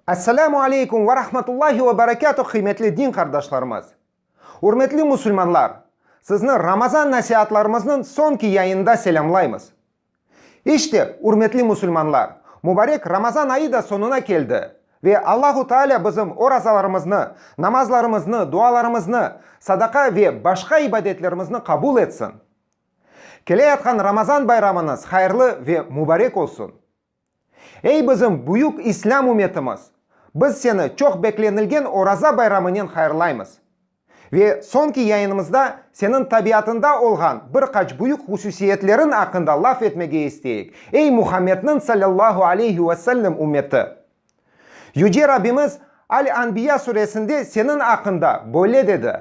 Esselamu aleykum ve rahmetullahi ve berekâtuh qıymetli din qardaşlarımız! Ürmetli musulmanlar! Sizni Ramazan nasiatlarımıznıñ soñki yayınında selâmlaymız. İşte, ürmetli musulmanlar, mubarek Ramazan ayı da soñuna keldi. Ve Allahu Taalâ bizim orazalarımıznı, namazlarımıznı, dualarımıznı, sadaqa ve başqa ibadetlerimizni qabul etsin. Keleyatqan Ramazan bayramıñız hayırlı ve mubarek olsun! Ey bizim büyük İslâm ümetimiz! Biz seni çoq beklenilgen Oraza bayramınen hayırlaymız. Ve soñki yayınımızda seniñ tabiatında olğan bir qaç büyük hususiyetleriñ aqqında laf etmege isteyik, ey Muhammedniñ sallallahu aleyhi ve sellem ümeti! Yüce Rabbimiz Al-Anbiya suresinde seniñ aqqında böyle dedi.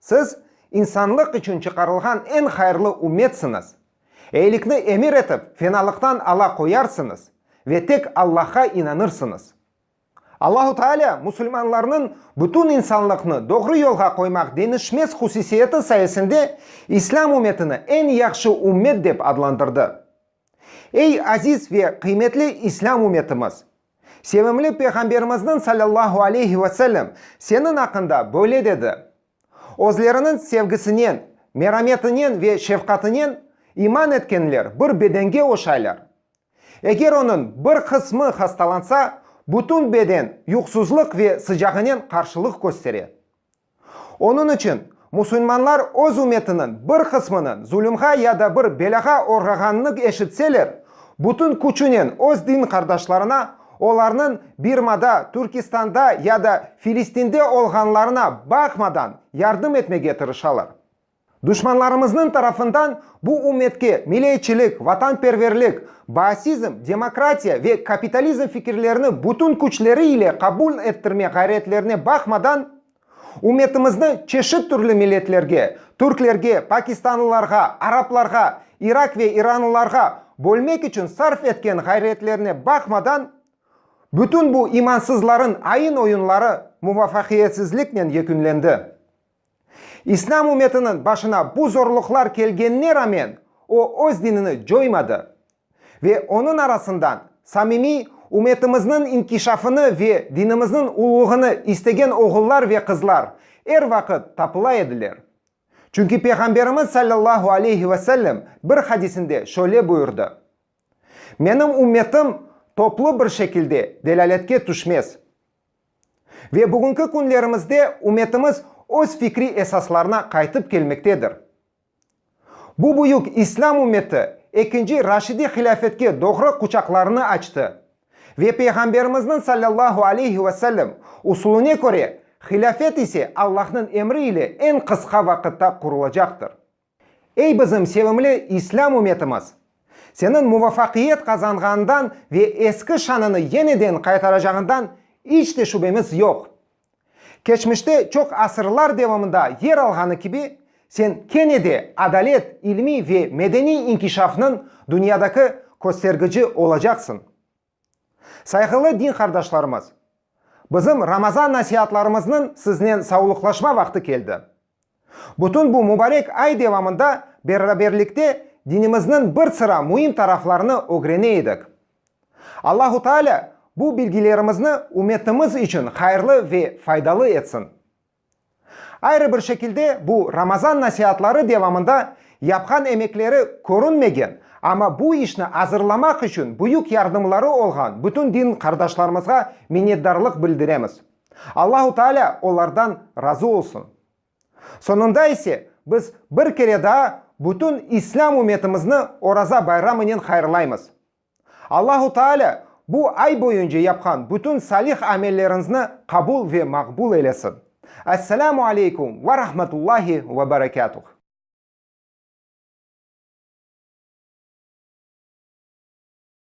Siz, insanlıq içün çıqarılğan eñ hayırlı ümmetsiñiz. Eyilikni emir etip, fenalıqtan ala qoyarsıñız ve tek Allahqa inanırsıñız. Allahu Taalâ musulmanlarnıñ bütün insanlıqnı doğru yolğa qoymaq deñişmez husisiyeti sayesinde İslâm ümmetini eñ yahşı ümmet dep adlandırdı. Ey aziz ve qıymetli İslâm ümmetimiz! Sevimli Peyğamberimizniñ salâllahu aleyhi ve sellem seniñ aqqında böyle dedi, Özleriniñ sevgisinen, merametinen ve şefqatinen iman etkenler bir bedenge oşaylar. Eger onıñ bir qısmı hastalansa, bütün beden yuqsuzlıq ve sıcağınen qarşılıq köstere. Onıñ içün, musulmanlar öz ümmetiniñ bir qısmınıñ zulümğa ya da bir belâğa oğrağanını eşitseler, bütün küçünen öz din qardaşlarına, olarnıñ Birmada, Türkistanda ya da Filistinde olğanlarına baqmadan, yardım etmege tırışalar. Duşmanlarımıznıñ tarafından bu ümmetke mileyçilik, vatanperverlik, baasizm, demokratiya ve kapitalizm fikirlerini bütün küçleri ile qabul ettirme ğayretlerine baqmadan, ümmetimizni çeşit türlü milletlerge, türklerge, pakistanlılarğa, araplarğa, irak ve iranlılarğa bölmek içün sarf etken ğayretlerine baqmadan, bütün bu imansızların ayın-oyunları muvafaqiyetsizliknen yekünlendi. İslâm ümmetiniñ başına bu zorluqlar kelgenine ramen, o öz dinini coymadı ve onıñ arasından samimiy ümmetimizniñ inkişafını ve dinimizniñ uluğını istegen oğullar ve qızlar er vaqıt tapıla ediler. Çünki Peyğamberimiz sallallahu aleyhi ve sellem bir hadisinde şöyle buyurdı, Menim ümmetim toplu bir şekilde delâletke tüşmez. Ve bugünki künlerimizde ümetimiz öz fikriy esaslarına qaytıp kelmektedir. Bu büyük İslâm ümmeti ekinci Raşidiy hilâfetke doğru quçaqlarını açtı ve Peyğamberimizniñ sallallahu aleyhi ve sellem usulüne köre, hilâfet ise Allahnıñ emri ile eñ qısqa vaqıtta qurulacaqtır. Ey bizim sevimli İslâm ümetimiz! Seniñ muvafaqiyet qazanğanından ve eski şanını yeniden qaytaracağından iç de şübemiz yoq. Keçmişte çoq asırlar devamında yer alğanı kibi, sen kene de adalet, ilmiy ve medeniy inkişafnıñ dünyadaki köstergici olacaqsıñ. Sayğılı din qardaşlarımız! Bizim Ramazan nasiatlarımıznıñ siznen savlıqlaşma vaqtı keldi. Bütün bu mubarek ay devamında beraberlikte dinimizniñ bir sıra müim taraflarını ögrene edik. Allahu Taalâ bu bilgilerimizni ümmetimiz içün hayırlı ve faydalı etsin. Ayrı bir şekilde, bu Ramazan nasiatları devamında yapqan emekleri körünmegen, amma bu işni azırlamaq içün büyük yardımları olğan bütün din qardaşlarımızğa minnetdarlıq bildiremiz. Allahu Taalâ olardan razı olsun. Soñunda ise, biz bir kere daa bütün İslâm ümmetimizni Oraza bayramınen hayırlaymız. Allahu Taalâ bu ay boyunca yapqan bütün salih amelleriñzni qabul ve maqbul eylesin. Esselamu aleykum ve rahmetullahi ve berekâtuh.